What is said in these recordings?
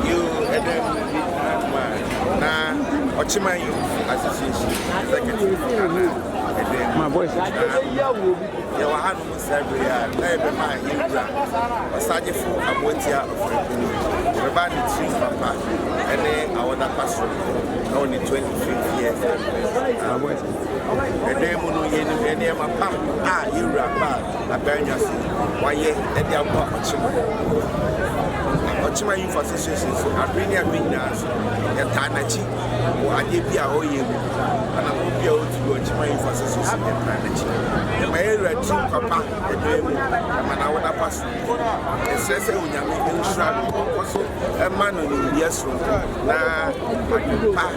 Yiw, ɛda mu bi koraa mu a, na Ɔkyeman Yawufo Association executive ka na ɛda mu. Na yɛwɔ hanom saa bere a na yɛbɛma yɛn wura Ɔsagyefo Aboatia Ɔfrɛmpɔni, yɛbɛba ne tirim papa ne awɔda pa soronko wɔ ne 25th year anniversary. Ɛdan mu no, yɛn nneɛma pam a yɛn wura baa na dan dwafo wayɛ de aboa ɔkyema. Na ɔkyema Youth Association nso, abere ne abere nyinaa nso, yɛtaa n'akyi wɔ adeɛ bi a ɔyɛ mu. Ana mo bi a ɔdi wɔ ɔkyema Youth Association yɛtaa n'akyi. Ɛma yɛ wura ti papa ɛdɔɛ mu, ɛma na wɔn apa so. Ɛsrɛ sɛ onyame nhyira no, ɔnkɔ so ɛma no nimdeɛ soronko na adepa.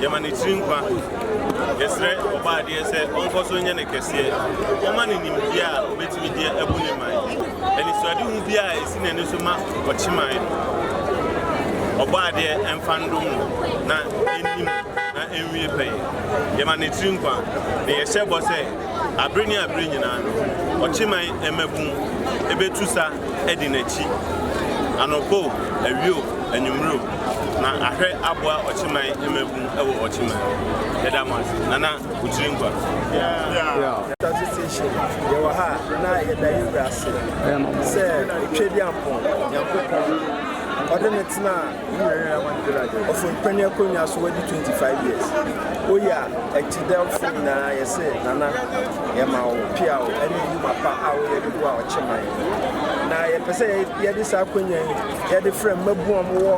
Yɛma ne tiri nkwa. Yɛsrɛ Ɔbɔadeɛ sɛ ɔnkɔ so nyɛ no kɛseɛ. Ɔmma no nimdeɛ a ɔbɛtumi de abu ne man. Anisoadehu biara a ɛsi n'ani so ma ɔkye man no, Ɔbɔadeɛ mfa ndom no na ɛnni mu na ɛnwie pɛyɛ. Yɛma ne tiri nkwa, na yɛhyɛ bɔ sɛ. Bere ne bere nyinaa no, ɔkyeman mmabun betu sa adi n'akyi. Anɔpa o, awia o, anwummere o, na ahwɛ aboa ɔkyeman mmabun wɔ ɔkyeman. Yɛda mo ase, Nana Okyirenkwa. Taxi station yɛwɔ ha a na yɛda yɛn wura ase sɛ Otwedeampɔn Nyankopɔn ɔde no tenaa Ɔfon panyin akonwa so wadi 25 years Oye a akyidɛwfo nyinaa yɛ se Nana yɛma wo peaw ne ndwuma pa a woyɛ de boa ɔkye man yi Na yɛpɛ sɛ yɛde saa akonwa yi yɛde frɛ mmabun a wɔwɔ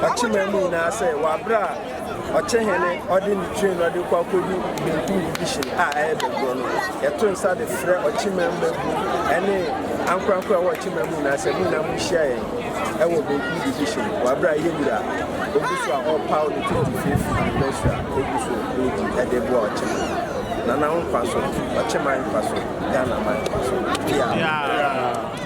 ɔkye man mu nyinaa sɛ wɔ aberɛ a ɔkye hene ɔde ne train no ɔde kɔ akɔdu benkum division a ɛyɛ bɛgorɔ no yɛto nsa de frɛ ɔkye man mmabun ne ankorankoro a ɛwɔ ɔkye man mu nyinaa sɛ mo nyinaa monhyia yɛn Wɔ Benkum Division, wɔ aber a yɛyɛ wura a, ogu so a ɔrepaw no tititsi fi ndɔsu a ogu so redzi dze boa ɔkyeman, Nana wo mfaso, ɔkyeman mfaso, Ghanaman mfaso. Piaa!